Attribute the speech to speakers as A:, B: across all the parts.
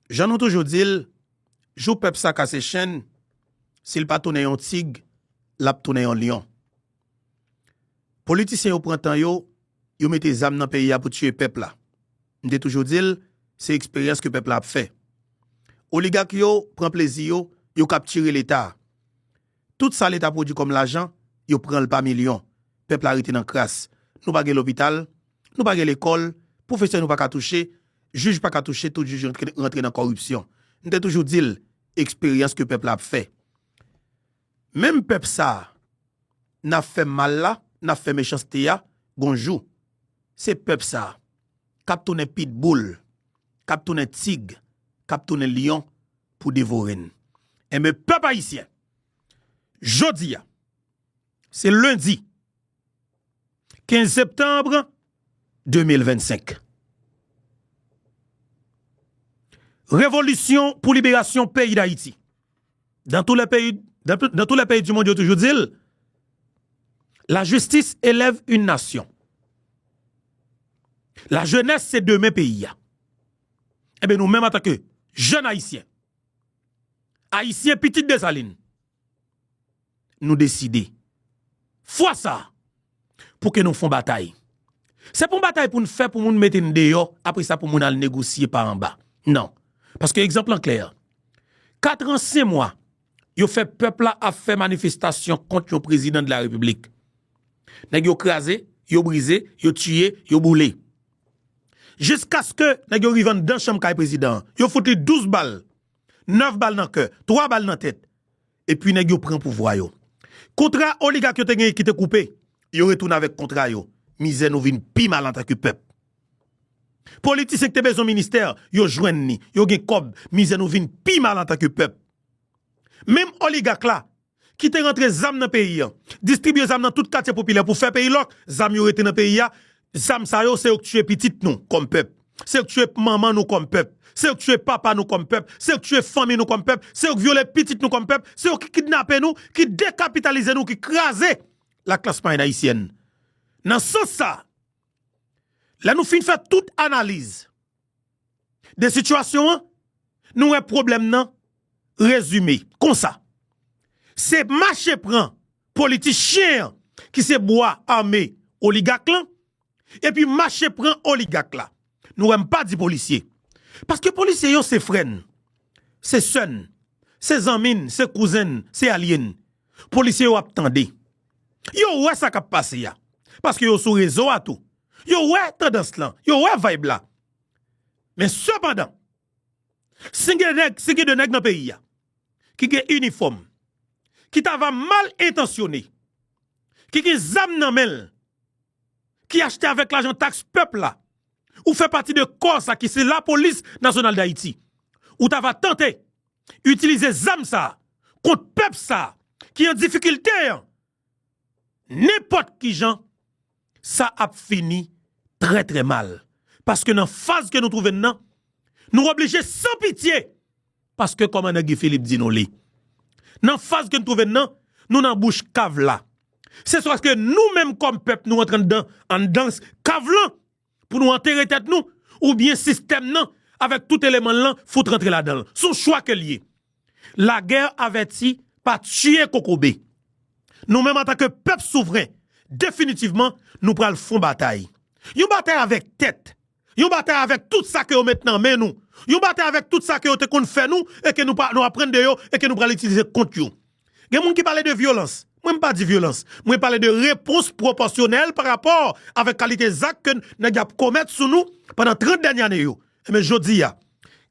A: Jan nou toujou di l, jou pèp sa kase chenn, si l pa tounen yon tig, l ap tounen yon lyon. Politisyen yo pran tan yo, yo mete zam nan peyi a pou tiye pèp la. M te toujou di l, se eksperyans ke pèp la ap fè. Oligak yo pran plezi yo, yo kaptire Leta a. Tout sa leta pwodwi kòm lajan, yo pran l pa milyon. Pèp la rete nan kras. Nou pa gen lopital, nou pa gen lekòl, pwofesè nou pa ka touche, jij pa ka touche, tout jij rantre nan kòripsyon. M te toujou di l, eksperyans ke pèp la ap fè. Menm pèp sa a n ap fè mal la, n ap fè mechanste a, gon jou, se pèp sa a k ap tounen pitboul, k ap tounen tig, k ap tounen lyon pou devore n. Enben pèp ayisyen, jodi a, se lendi 15 septanbre 2025. Revolisyon pou liberasyon peyi dayiti. Dan tou le peyi, dan tou le peyi di mondial toujou di l, la jistis elèv yn nasyon. La jenès se demen peyi a. Enben nou menm antanke jèn ayisyen, ayisyen pitit Desalin, nou deside fwa sa a pou ke nou fon batay. Se pa yon batay pou n fè pou moun mete n deyò apre sa pou moun al negosye pa anba. Non. Paske egzanp lan klè. Katran sen mwa yo fè pèp la ap fè manifestasyon kont yon prezidan de la repiblik. Nèg yo kraze, yo brize, yo tiye, yo boule. Jiskaske nèg yo rive anndan chanm kay prezidan an, yo fout li 12 bal, 9 bal nan kè, 3 bal nan tèt, epi nèg yo pran pouvwa yo. Kontra oligak yo te genyen ki te koupe, yo retounen avèk kontra yo, mizè nou vin pi mal antanke pèp. Politisyen ki te bezwen ministè, yo jwenn li, yo gen kòb, mizè nou vin pi mal antanke pèp. Menm oligak la, ki te rantre zam nan peyi an, distribye zam nan tout katye popilè pou fè peyi lòk, zam yo rete nan peyi a, zam sa yo se yo k tiye pitit nou kòm pèp, se yo k tiye manman nou kòm pèp, se yo k tiye papa nou kòm pèp, se yo k tiye fanmi nou kòm pèp, se yo k vyole pitit nou kòm pèp, se yo ki kidnape nou, ki dekapitalize nou, ki kraze laklas mwayèn ayisyèn. Nan sans sa, lè nou fin fè tout analiz, de sitiyasyon an, nou wè pwoblèm nan rezime konsa. Se mache pran politichyen an ki se bwa ame oligak lan, epi mache pran oligak la. Nou wè m pa di polisye, paske polisye yo se frè n, se sè n, se zanmi n, se kouzen n, se alye n. Polisye yo ap tande. Yo wè sa k ap pase a, paske yo sou rezo a tou, Yo wè tandans lan, yo wè vayb la. Men sepandan, si gen nèg, si gen de nèg nan peyi a, ki gen inifòm, ki ta va mal entansyone, ki gen zam nan men l, ki achte avèk lajan taks pèp la, ou fè pati de kò sa ki se lapolis nasyonal dayiti, ou ta va tante itilize zam sa kont pèp sa ki an difikilte an, Nenpòt kijan sa ap fini trè trè mal. Paske nan faz ke nou twouve n nan, nou oblije san pitye, paske kòmandan Guy Philippe di nou li. Nan faz ke n twouve n nan, nou nan bouch kav la. Se swa ke nou menm kòm pèp nou antre anndan anndan kav lan. pou nou antere tèt nou oubyen sistèm nan avèk tout eleman l lan fout rantre ladan l. S on chwa ke l ye. Lagè avèti pa tiye kokobe. Nou menm antanke pèp souvren, definitivman nou pral fon batay. Yon batay avèk tèt, yon batay avèk tout sa ke yo met nan men nou, yon batay avèk tout sa ke yo te konn fè nou e ke nou aprann de yo e ke nou pral itilize kont yo. Gen moun ki pale de vyolans, mwen m pa di vyolans, mwen pale de repons pwopòsyonèl pa rapò avèk kalite zak ke nèg yo ap komèt sou nou pandan 30 dènye ane yo. Enben jodi a,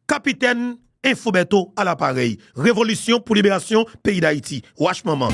A: Kapitèn Info Bertho a laparèy. Revolisyon pou liberasyon peyi Dayiti. Wach manman!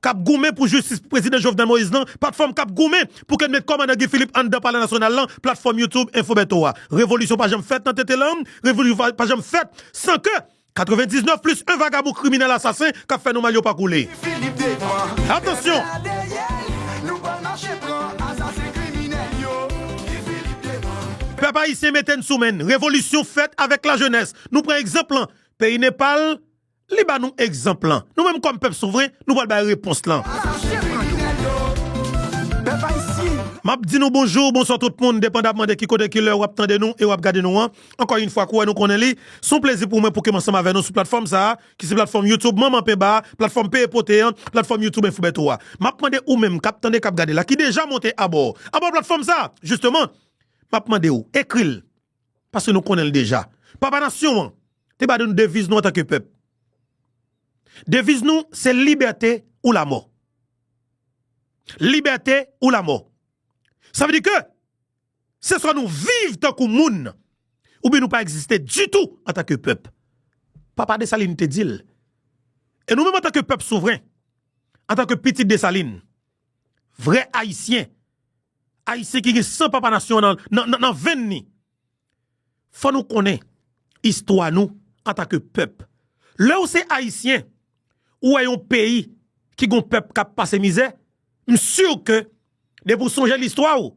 A: k ap goumen pou jistis pou Prezidan Jovenel Moïse lan, patfòm k ap goumen pou ke n met kòmandan Guy Philippe anndan palè nasyonal lan, platfòm YouTube Info Bertho a. Revolisyon pa janm fèt nan tete lanm, revolisyon pa janm fèt san ke 99 plis 1 vagabon kriminèl asasen k ap fè nou mal yo pa koule.
B: Pèp ayisyen mete n
A: sou men n, revolisyon fèt avèk lajenès, nou pran egzanp lan peyi Nepal, Li ba nou egzanp lan. Nou menm kòm pèp souvren, nou pral bay repons lan.
B: M ap di nou bonjou,
A: bonswa tout moun, depandamman de ki kote, ki lè ou ap tande nou e ou ap gade nou an. Ankò yin fwa, kou wè nou konnen li, s on plezi pou mwen pou ke m ansanm avè nou sou platfòm sa a, ki se platfòm YouTube Manman Penba a, platfòm Peye Pote an, platfòm YouTube Info Bertho a. M ap mande ou menm k ap tande, k ap gade la, ki deja monte abò, abò platfòm sa a, jisteman, m ap mande ou, ekri l, Paske nou konnen l deja. Papa nasyon an te ba nou deviz nou antanke pèp. Deviz nou se libète ou lamò. Libète ou lamò. Sa vle di ke se swa nou viv tankou moun oubyen nou pa egziste ditou antanke pèp. Papa Desalin te di l. E nou menm antanke pèp souvren, antanke pitit Desalin, vrè ayisyen, Ayisyen ki gen san papa nasyon an nan venn li. Fò nou konnen istwa nou anta ke pèp. Lè ou se Ayisyen, ou wè yon peyi ki gon pèp kap pase mizè, m sur ke depi ou sonje listwa ou,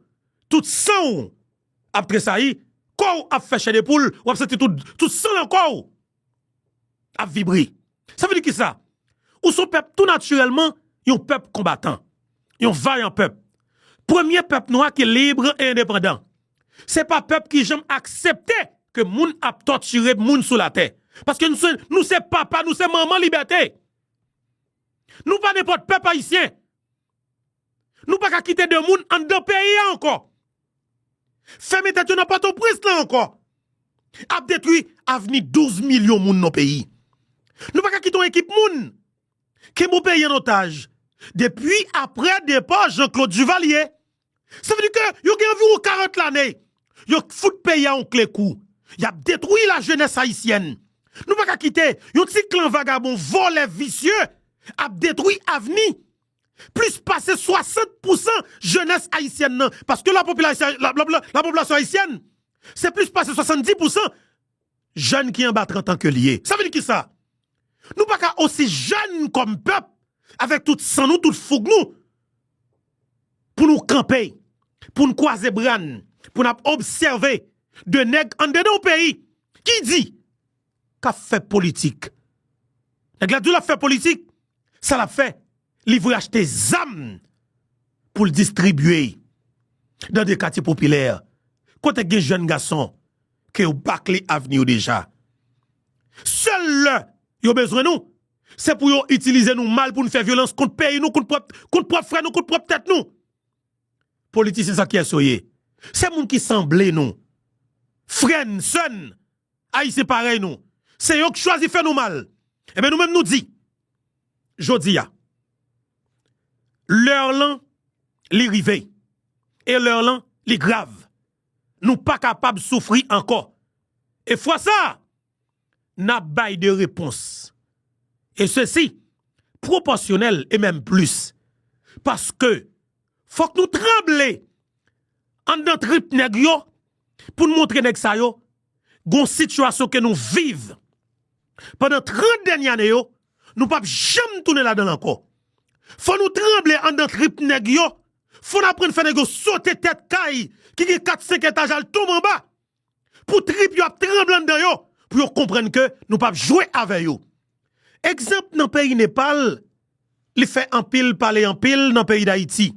A: tout san ou ap tresayi, kò ou ap fè chè de poul, wap santi tout san lan kò ou. ap vibre. Sa vle di kisa? Ou son pèp tou natirèlman, yon pèp konbatan. Yon vayan pèp. Premye pèp nwa ki lib e endepandan. Se pa pèp ki janm aksepte ke moun ap tòtire moun sou latè. Paske nou se papa, nou se manman libète. Nou pa nenpòt pèp ayisyen. Nou pa ka kite 2 moun anndan peyi a ankò. Fèmen tèt yo nan pòtoprens lan ankò. Ap detwi avni 12 milyon moun nan peyi. Nou pa ka kite yon ekip moun kenbe yon peyi an otaj depi aprè depa Jean Claude Duvalier. Sa vle di ke yo gen anviwon 40 lane yo fout peyi a yon kle kou. Y ap detwi lajenès ayisyèn. Nou pa ka kite yon ti klan vagabon vòlè visye ap detwi avni plis pase 60 pousan jenès ayisyèn nan. Paske lapopilasyon ayisyèn se plis pase 70 pousan. Jèn ki anba 30 an ke li ye. Sa vle di kisa? Nou pa ka osi jèn kòm pèp, avèk tout san nou, tout foug nou, pou nou kanpe, pou nou kwaze bra n, pou n ap obsève 2 nèg andedan yon peyi ki di k ap fè politik. Nèg la di w l ap fè politik, sa l ap fè? Li vle achte zam pou l distribye dan de katye popilè, kote k gen jèn gason. ke yo bakle avni yo deja. Sèl lè yo bezwen nou, se pou yo itilize nou mal pou n fè vyolans kont peyi nou, kont pwòp frè nou, kont pwòp tèt nou. Politisyen sa kiyès yo ye? Se moun ki sanble nou, frè n, sè n, Ayisyen parèy nou. Se yo ki chwazi fè nou mal. Enben nou menm nou di, jodi a, lè lan li rive e lè lan li grav. Nou pa kapab soufri ankò. E fwa sa a, n ap bay de repons. E sesi pwopòsyonèl e menm plis. Paske fòk nou tranble anndan trip nèg yo pou n montre nèg sa yo gon sitiyasyon ke nou viv pandan 30 dènye ane yo. Nou pap janm tounen ladanl ankò. Fò nou tranble andan trip nèg yo, fò n aprann fè nèg yo sote tèt kay ki gen 4 5 etaj al tonbe anba pou trip yo ap tranble andan yo pou yo konprann ke nou pap jwe avè yo. Egzanp nan peyi Nepal li fè anpil pale anpil nan peyi Dayiti.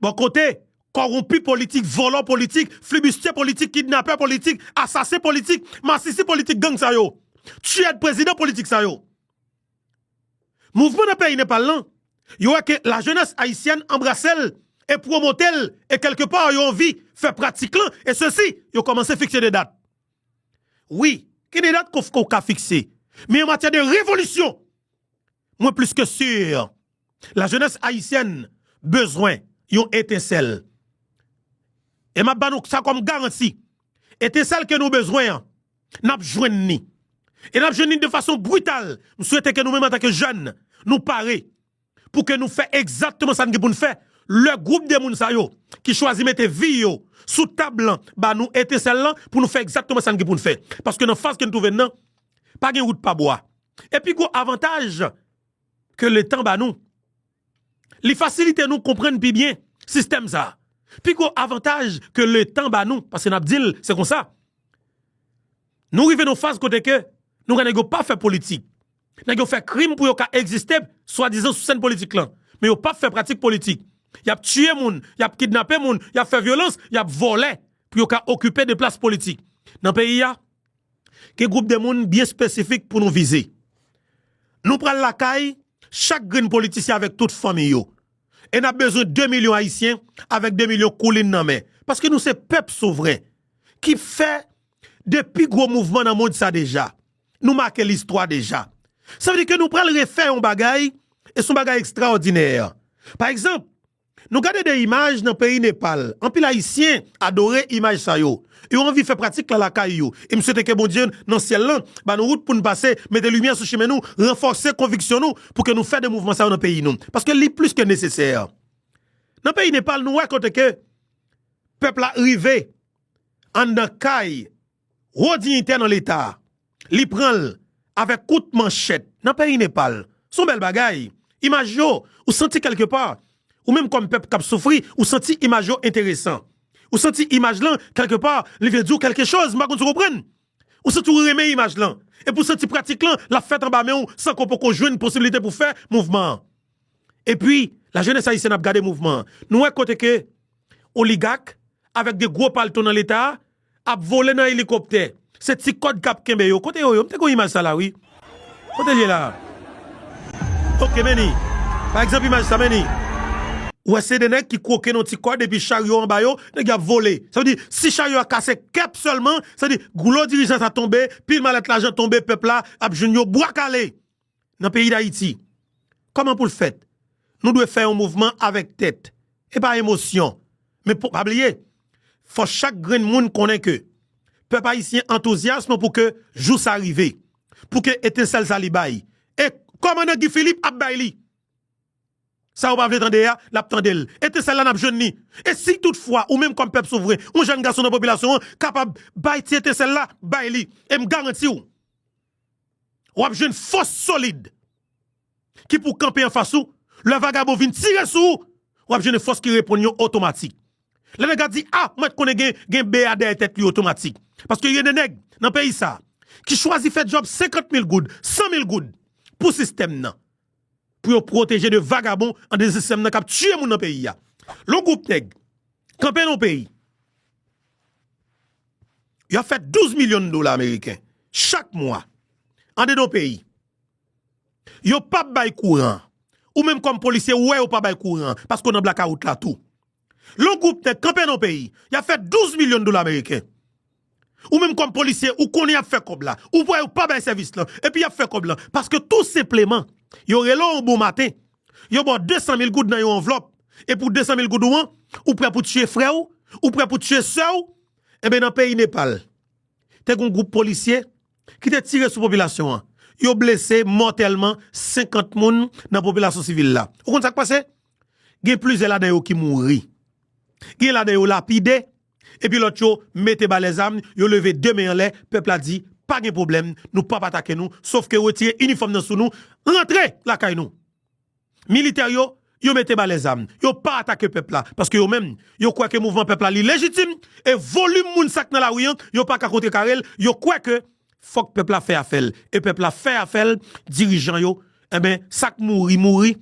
A: Bò kote Kòwonpi politik, vòlò politik, flibustye politik, kidnapè politik, asasen politik, masisi politik gang sa yo. Tiyèd prezidan politik sa yo. Mouvman nan peyi Nepal lan, yo wè ke lajenès ayisyèn anbrase l e pwomote l e kèlke pa yo anvi fè pratik lan e sesi yo kòmanse fikse de dat. Wi, gen de dat ke w ka fikse men an matyè de revolisyon Mwen plis ke sur la jenès ayisyèn bezwen yon etensèl. E map ba nou sa kòm garanti, etensèl ke nou bezwen an, nap jwenn ni. E nap jwenn ni de fason brital. M swete ke nou menm antanke jèn, nou pare pou ke nou fè egzatteman sa n gen pou n fè lè gwoup de moun sa yo ki chwazi mete vi yo sou tab lan ba nou etensèl lan pou nou fè egzatteman sa n gen pou n fè. Paske nan faz ke n twouve n nan, pa gen wout pa bwa. E pi gwo avantaj ke letan ba nou, li fasilite nou konprann pi byen sistèm sa a. Pi gwo avantaj ke letan ba nou, paske n ap di l se konsa, nou rive nan yon faz kote ke nou wè nèg yo pa fè politik. Nèg yo fè krim pou yo ka egziste swadizan sou sèn politik lan. Men yo pa fè pratik politik. Y ap tiye moun, y ap kidnape moun, y ap fè vyolans, y ap vòlè pou yo ka okipe de plas politik nan peyi a. Gen gwoup de moun byen espesifik pou nou vize. Nou pral lakay chak grenn politisyen avèk tout fanmi yo. E n ap bezwen 2 milyon Ayisyen avèk 2 milyon koulin nan men. Paske nou se pèp souvren ki fè 2 pi gwo mouvman nan mond sa deja. Nou make listwa deja. Sa vle di ke nou pral refè yon bagay e se yon bagay ekstraòdinè. Pa egzanp. Nou gade de imaj nan peyi Nepal, anpil ayisyen adore imaj sa yo. Yo anvi fè pratik la lakay yo. E m swete ke Bondye nan syèl lan ba nou wout pou n pase, mete limyè sou chimen nou, ranfòse konviksyon nou pou ke nou fè de mouvman sa yo nan peyi nou. Paske li plis ke nesesè. Nan peyi Nepal nou wè kote ke pèp la rive anndan kay Wo diyitè nan leta a, li pran l avèk kout manchèt nan peyi Nepal. Se yon bèl bagay. Imaj yo, ou santi kèlke pa, ou menm kòm pèp k ap soufri, ou santi imaj yo enteresan. Ou santi imaj lan, kèlke pa, li vle di w kèlke choz, m pa konn si w konprann. Ou santi w renmen imaj lan. Epi ou santi pratik lan, l ap fèt anba men w san ke w poko jwenn posibilite pou w fè mouvman an. Epi, lajenès ayisyèn ap gade mouvman an. Nou wè kote ke oligak avèk de gwo palto nan leta a, Ap vole nan elikoptè. Se ti kòd kap kenbe yo. Kote yo ye? M te konn imaj sa la wi. Kote l ye la? Ok men li. Pa egzanp imaj sa men li. Ou wè se 2 nèg ki kwoke nan ti kòd epi charyo anba yo, nèg yo ap vole. Sa vle di si charyo a kase kep sèlman, sa vle di gwo dirijan sa tonbe, pil malèt lajan tonbe pèp la ap jwenn yo bwa kale. nan peyi dayiti kòman poul fèt nou dwe fè yon mouvman avèk tèt epa emosyon men pou pa bliye fò chak grenn moun konnen ke pèp ayisyen antouzyasm pou ke jou sa rive pou ke etensèl sa li bay e kòmandan Guy Philippe ap bay li sa yo pa vle tande a lap tandel etensèl la nap jwenn li e si tout fwa ou menm kòm pèp souvren yon jèn gason nan popilasyon an kapab bay ti etensèl la bay li em garantiw wap jwenn fòs solid ki pou kanpe anfas ou, lè vagabon vin tire sou ou, wap jwenn fòs ki reponn yo otomatik. Lè nèg la di a, ou mèt konnen gen BA dèyè tèt li otomatik. Paske gen de nèg nan peyi sa ki chwazi fè djòb 50 mil goud, 100 mil goud pou sistèm nan. pou yo pwoteje de vagabon an dezisèm nan kap tiye moun nan peyi a. Lè yon gwoup nèg kanpe nan yon peyi, yo ap fè 12 milyon dola ameriken chak mwa andedan yon peyi, yo pap bay kouran, ou menm kòm polisye ou wè yo pa bay kouran paske w nan blakawout la tou. Lè yon gwoup nèg kanpe nan yon peyi, y ap fè 12 milyon dola meriken. Ou menm kòm polisye, ou konnen y ap fè kòb la. Ou wè yo pa bay sèvis lan, epi y ap fè kòb lan. Paske tou senpleman, yo rele w yon bon maten, yo ba w 200 mil goud nan yon anvlòp. E pou 200 mil goud ou an, ou prè pou tiye frè w, ou prè pou tiye sè w. Enben nan peyi Nepal, te gen yon gwoup polisye ki te tire sou popilasyon an. Yo blese mòtèlman 50 moun nan popilasyon sivil la. Ou konn sa k pase? Gen plizyè ladan yo ki mouri. Gen ladan yo lapide, epi lòt yo mete ba lèzam, yo leve 2 men anlè, pèp la di, pa gen pwoblèm, nou p ap atake nou, sof ke retire inifòm nan sou nou, rantre lakay nou. Militè yo, yo mete ba lèzam, yo pa atake pèp la, paske yo menm, yo kwè ke mouvman pèp la li lejitim, e volim moun sa k nan lari an, yo pa ka kontrekare l, yo kwè ke Fok pep la fè afel e pep la fè afel dirijan yo enben sak mouri mouri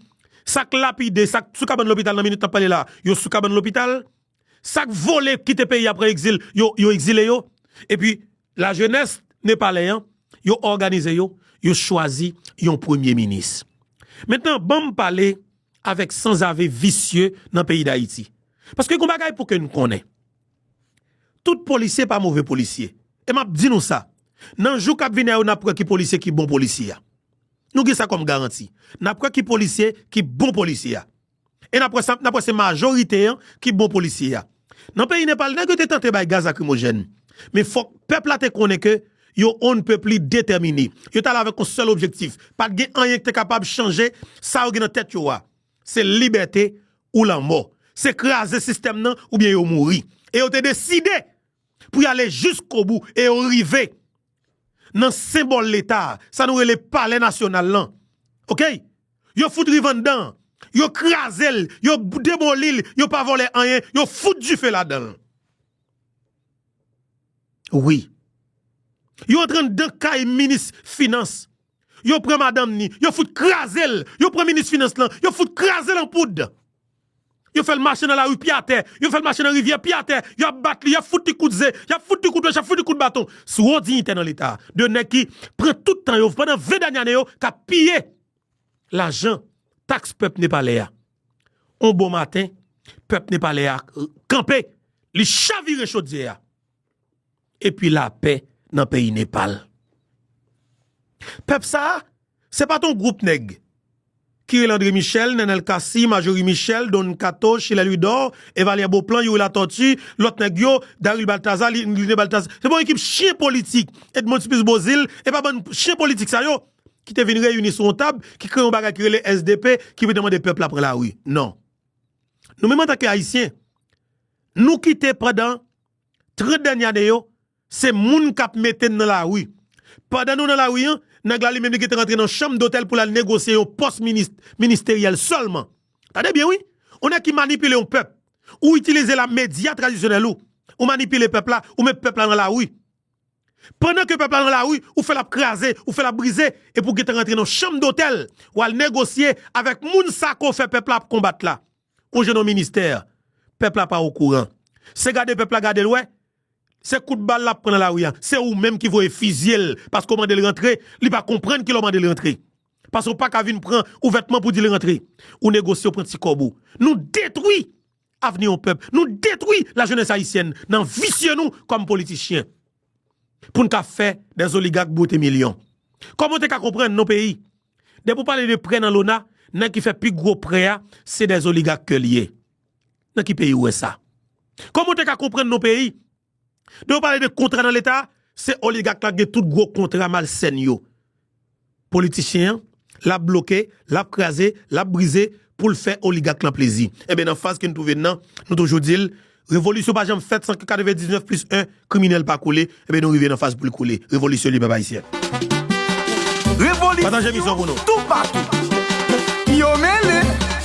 A: sak lapide sak sou kabann lopital nan minit nap pale la yo sou kabann lopital sak vole kite peyi a pran exil yo yo exile yo epi la jenes nepalè an yo òganize yo yo chwazi yon premye minis mentnan banm pale avek sanzave visye nan peyi dayiti paske gon bagay pouke nou konnen. Tout polisye pa move polisye. E m ap di nou sa, nan jou k ap vini a yo n ap wè ki polisye ki bon polisye a. Nou gen sa kòm garanti. N ap wè ki polisye ki bon polisye a. E n ap wè sa, n ap wè se majorite an ki bon polisye a. Nan peyi Nepal, nèg yo te tante bay gaz lakrimojèn. Men fòk pèp la te konnen ke yo on ne peut plus detèmine. Yo t ale avèk yon sèl objektif. Pa t gen anyen ki te kapab chanje sa yo gen nan tèt yo a. Se libète ou lanmò. Se kraze sistèm nan oubyen yo mouri. E yo te deside pou y ale jiskobou e yo rive nan senbòl Leta a, sa nou rele Palè Nasyonal lan. Ok! Yo fout rive anndan an. Yo kraze l, yo demoli l, yo pa vòlè anyen, yo fout dife ladan l. Wi. Yo antre anndan kay minis finans. Yo pran madanm ni, yo fout kraze l, yo pran minis finans lan, yo fout kraze l an poud. Yo fè l mache nan lari pye atè, yo fè l mache nan rivyè pye atè, y ap bat li, y ap fout li kout ze, y ap fout li kout wèch, y ap fout li kout baton. Sou won diyitè nan leta a. De nèg ki pran tout tan yo pandan 20 dènye ane yo k ap piye lajan taks pèp nepalè a. On bon maten, pèp nepalè a kanpe, li chavire chodyè a. epi lapè nan peyi Nepal. Pèp sa a, se pa t yon gwoup nèg ki rele André Michel, Nènèl Cassy, Majorie Michel, Don Kato, Chilè Louidor, Evalye Boplan, Youri Latòti, lòt nèg yo, Daril Baltaza, Lide Baltaza. Se pa yon ekip chyen politik, Edmond Supplice Beauzile, e pa bann chyen politik sa yo ki te vin reyini sou yon tab, ki kreye yon bagay ki rele sdp, ki vin te mande pèp la pran lari. Non. Nou menm antanke Ayisyen, nou kite pandan. 30 dènye ane yo, se moun k ap mete n nan lari. Pandan nou nan lari an, nèg la li menm li gentan rantre nan chanm dotèl pou l al negosye yon pòs ministeryèl sèlman. Tande byen wi! Yon nèg ki manipile yon pèp. Ou itilize la medya tradisyonèl ou, ou manipile pèp la, ou met pèp la nan lari. Pandan ke pèp la nan lari, ou fè l ap kraze, ou fè l ap brize, epi ou gentan rantre nan chanm dotèl, w al negosye avèk moun sa ke w fè pèp la ap konbat la. Ou jwenn yon ministè, pèp la pa okouran. Se gade pèp la gade l wè, se kout bal l ap pran nan lari a. Se ou menm ki voye fizye l paske w mande l rantre, li pa konprann kilè w mande l rantre. Paske w pa ka vin pran ouvètman pou di l rantre. Ou negosye, ou pran ti kòb ou. Nou detwi avni yon pèp, nou detwi lajenès ayisyèn nan visye nou kòm politichyen. pou n ka fè des oligak bwote milyon. Kòman w te ka konprann non peyi? Depi w pale de prè nan lona, nèg ki fè pi gwo prè a, se des oligak ke li ye. Nan ki peyi w wè sa? Kòman w te ka konprann non peyi? Depi w pale de kontra nan leta, se oligak la ki gen tout gwo kontra malsèn yo. Politichyen an, l ap bloke, l ap kraze, l ap brize pou l fè oligak lan plezi. Enben nan faz ke n twouve n nan, nou toujou di l, Revolisyon pa janm fèt san ke 99 plis 1 kriminèl pa koule, enben nou rive nan faz pou l koule. Revolisyon li pèp ayisyen.
B: Pataje emisyon pou nou. Revolisyon toupatou. Yo mele!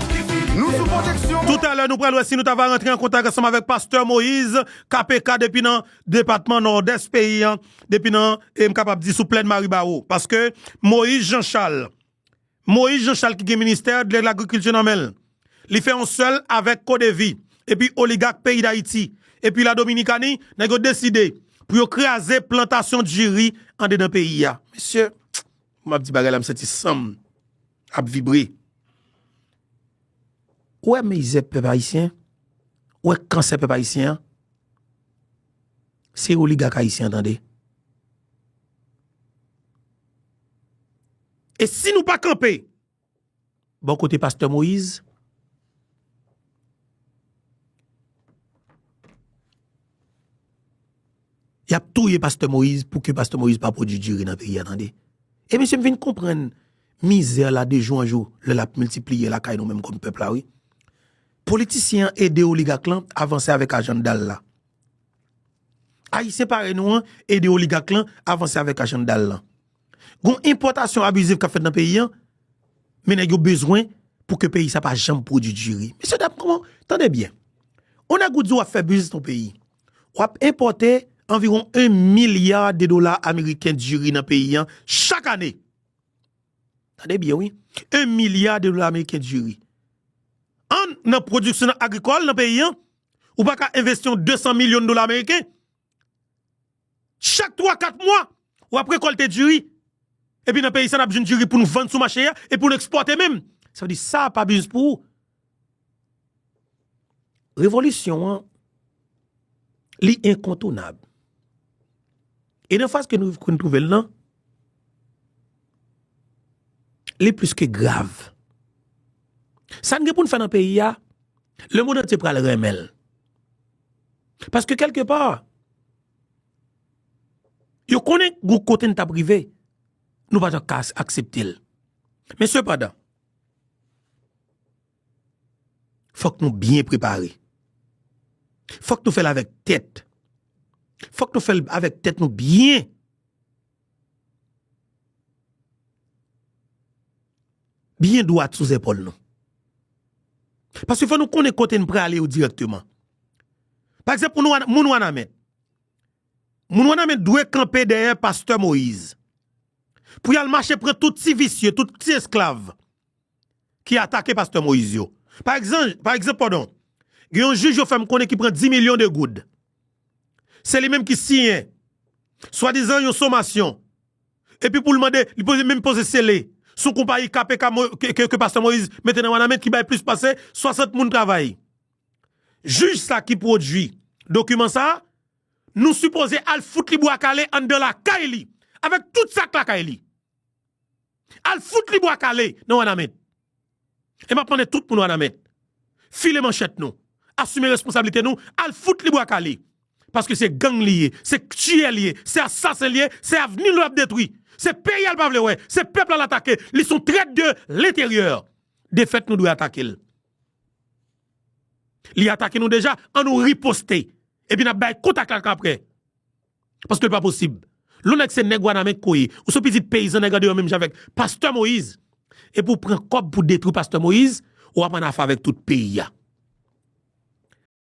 B: Nou sou pwoteksyon. Toutalè nou pral wè si
A: nou ta va rantre an kontak ansanm avèk pastè Moïse KPK depi nan depatman Nòdès peyi an, depi nan e m kapab di sou plèn Maribawo. Paske Moïse Jean Charles, Moïse Jean Charles ki gen ministè de lagrikilti nan men l, li fè yon sèl avèk CODEVI epi oligak peyi Dayiti, epi la Dominikani, nèg yo deside pou yo kraze plantasyon diri andedan peyi a. Mesye, m ap di bagay la m santi san m. ap vibre. Ou wè mizè pèp ayisyen, ou wè kansè pèp ayisyen an, se oligak ayisyen an tande. E si nou pa kanpe bò kote pastè Moïse, Yap touye pastè moise pou ke pastè moise pa pwodwi diri nan peyi a tande e mesye m vin konprann mizè la de jou an jou lè lap miltipliye lakay nou menm kòm pèp la wi politisyen an ede oligak lan avanse avèk ajandal la ayisyen parèy nou an ede oligak lan avanse avèk ajandal lan gon enpòtasyon abiziv kap fèt nan peyi an men nèg yo bezwen pou ke peyi sa pa janm pwodwi diri mesye dam kòman tande byen on nèg ou di wap fè biznis nan yon peyi. W ap enpòte anviwon 1 milya de dola ameriken diri nan peyi an chak ane. Tande byen wi, 1 milya de dola ameriken diri. An nan pwodiksyon agrikòl nan peyi an, ou pa ka envesti yon 200 milyon dola ameriken. Chak 3, 4 mwa, w ap rekòlte diri. Epi nan peyi sa n ap jwenn diri pou n vann sou mache a e pou n ekspòte menm. Sa vle di sa pa biznis pou ou. Revolisyon an, li enkontounab. E nan faz ke nou koun touvel nan, li plis ke grav. Sa n gen pou n fè nan peyi a, le mond antye pral renmen l. Paske kelke pa, yo konnen gou kote n tap rive, nou pa t ak aksepte l. Men sepandan. Fòk nou byen prepare. Fòk nou fèl avèk tèt. Fòk nou fèl avèk tèt nou byen. Byen dwat sou zèpòl nou. Paske fò nou konnen kote n prale yo dirèkteman. Pakzanp moun wanament. Moun wanament dwe kanpe dèyè pastè Moïse pou yal mache pran tout ti visye tout ti esklav ki atake pastè Moïse yo pa ekzanp padon gen yon jij yo fèm konnen ki pran 10 milyon de goud se li menm ki siyen swadizan yon somasyon epi poul mande li poze menm poze sele son konpayi KPK ke pastè Moïse mete nan wanament ki bay plis pase 60 moun travay jij sa ki pwodui dokiman sa. Nou sipoze al fout li bwa kale anndan lakay li avèk tout sak lakay li. Al fout li bwa kale nan wanament. E map mande tout moun wanament file manchèt nou, asime responsabilite nou al fout li bwa kale. Paske se gang li ye, se tiyè li ye, se asasen li ye, se avni nou lap detwi, se peyi a li pa vle wè, se pèp la l atake, li son trèt de lenteryè. Defèt nou dwe atake l. Li atake nou deja, an nou riposte. Epi nap bay kont ak laka aprè. Paske li pa posib. Lè w nèk se nèg wanament ke w ye, ou se yon pitit peyizan nèg andeyo menm jan avèk pastè Moïse, epi w pran kòb pou detwi pastè Moïse, wap an afè avèk tout peyi a.